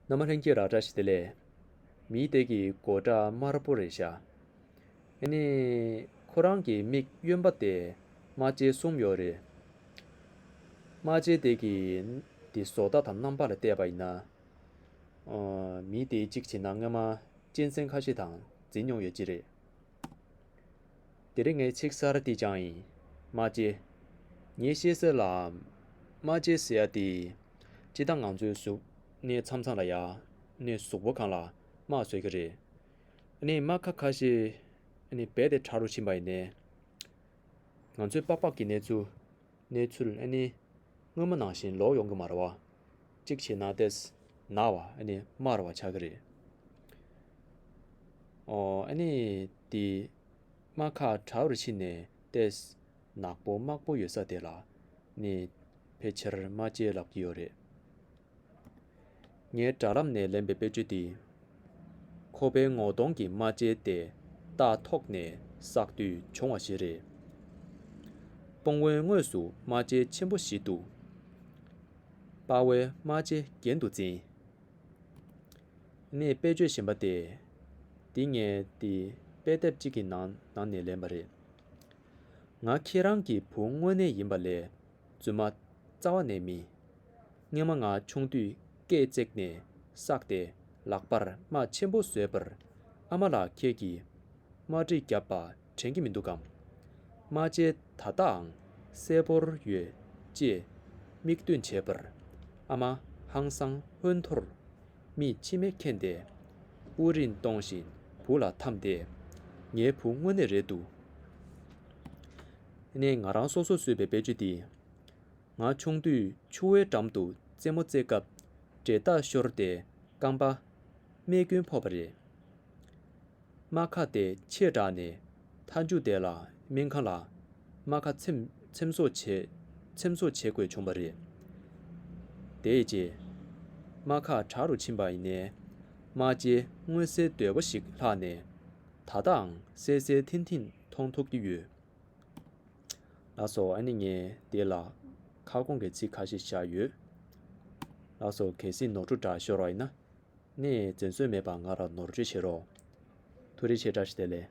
ནམ་མ་ལྷན་སྐྱེས་རག་བཀྲ་ཤིས་བདེ་ལེགས། མིའི་ལྟས་ཀྱིས་མགོ་སྐྲ་དམར་པོ་རེ་བཞག། ཨེ་ནས། ཁོ་རང་གི་མིག་གཡོན་པ་དེ་རྨ་བྱའི་གསུམ་ཡོད་རེད། རྨ་བྱའི་ལྟས་ཀྱིས་འདི་བཟོ་ལྟ་དང་རྣམ་པ་ལ་བལྟས་པ་ཡིན་ན། མིའི་ལྟས་གཅིག་བྱས་ན་སྔོན་མ་གཅན་གཟན་ཁ་ཤས་དང་འཛིང་མྱོང་ཡོད་ཀྱི་རེད། འདིར་ངའི་ཆིག་གསར་འདི་ཅང་ཡིན། མ་གཅེས། ངས་ཤེས་གསལ་ལ། མ་གཅེས་ཟེར་ཡ་འདི། ཅི་ད་ང་ཚོའི་གཟུགས་གནས་མཚམས་མཚམས་ལ་ཡ། ནས་གཟུགས་པོ་གང་ལ་མ་བཟོས་ཀྱི་རེད། ནས་རྨ་ཁ་ཁ་ཤས། ནས་རྦད་དེ་ཕྲ་རུ་ཕྱིན་པ་ཡིན། ནས། ང་ཚོའི་པགས་པགས་ཀྱི་གནས་ཚུལ། གནས་ཚུལ། ནས། སྔོན་མ་ནང་བཞིན་ལོག་ཡོང་གི་མ་རེད་བ། གཅིག་བྱས་ན་དེས་ན་བ་ཨ་ནི་དམར་བ་ཆགས་ཀྱི་རེད། ཨོ་ཨ་ནི་དེ་དམག་ཁ་བྲལ་བར་ཕྱིན་ནས་དེས་ནག་པོ་དམག་པོ་ཡོད་ས་དེ་ལ་ནི་ཕལ་ཆེར་དམག་སྐྱེལ་ལབ་ཀྱི་ཡོད་རེད། ངའི་དྲ་ལམ་ནས་ལེན་པའི་དཔེ་བརྗོད་དེ། ཁོ་པའི་ངོ་གདོང་གི་རྨ་བྱའི་ལྟས་རྟགས་ཐོག་ནས་བསགས་དུས་བྱུང་བ་ཞིག་རེད། སྤོང་བོའི་ངོས་སུ་རྨ་བྱའི་ཆེན་པོ་བཞི་འདུག། དཔའ་བོའི་རྨ་བྱའི་རྒྱན་དུ་འཛིན། ངས་དཔེ་བརྗོད་བཞིན་པ་སྟེ། འདི་ངས་འདི་དཔེ་དེབ་ཅིག་གི་ནང་ནས་ལེན་པ་རེད། ང་ཁྱེད་རང་གི་བུ་དངོས་གནས་ཡིན་པ་ལས་བཙུན་མ་རྩ་བ་ནས་མི། སྔན་མ་ང་ཆུང་དུས་སྐས་བརྩེགས་ནས་བསགས་ཏེ་ལག་པར་རྨ་ཆེན་པོ་བཟོས་པར་ཨ་མ་ལགས་ཁྱེད་ཀྱིས་རྨ་དྲི་བརྒྱབ་པ་དྲན་གྱི་མི་འདུག་གམ། རྨ་བྱའི་ད་ལྟའང་གསལ་པོར་ཡོད་ཅེས་མིག་སྟོན་བྱས་པར་ཨ་མ་ཧང་སང་ཧོན་ཐོར་མིས་མཆི་མས་ཁེངས་ཏེ་དབུགས་རིང་གཏོང་བཞིན་བུ་ལ་འཐམས་ཏེ། ངའི་བུ་དངོས་གནས་རེད་འདུག། ནས་ང་རང་སོ་སོར་བཟོས་པའི་དཔེ་ཆུ་འདི། ང་ཆུང་དུས་ཆུ་བོའི་འགྲམ་དུ་རྩེད་མོ་རྩེད་སྐབས་འབྲས་རྟགས་ཤོར་ཏེ་རྐང་པ། རྨས་སྐྱོན་ཕོག་པ་རེད། རྨ་ཁ་དེ་ཕྱེད་དྲགས་ནས་མཐའ་མཇུག་དེ་ལ་སྨན་ཁང་ལ་རྨ་ཁ་འཚེམ་བཟོ་བྱེད་དགོས་བྱུང་བ་རེད། དེའི་རྗེས་རྨ་ཁ་དྲག་རུ་ཕྱིན་པ་ནས་རྨ་བྱའི་མངོན་གསལ་དོད་པོ་ཞིག་ལྷག་ནས་ད་ལྟའང་གསལ་གསལ་ཐིང་ཐིང་མཐོང་ཐུབ་ཀྱི་ཡོད། ལགས་སོ་ཨ་ནི་ངས་འདི་ལ་ཁ་སྐོང་གི་ཚིག་ཁ་ཤས་བཞག་ཡོད། ལགས་སོ་གལ་སྲིད་ནོར་འཁྲུལ་འདྲ་ཤོར་བ་ཡིན་ན། ངས་འཛེམ་ཟོན་མེད་པར་ང་ལ་ནོར་བཅོས་བྱེད་རོགས། ཐུགས་རེ་ཆེ་བཀྲ་ཤིས་བདེ་ལེགས།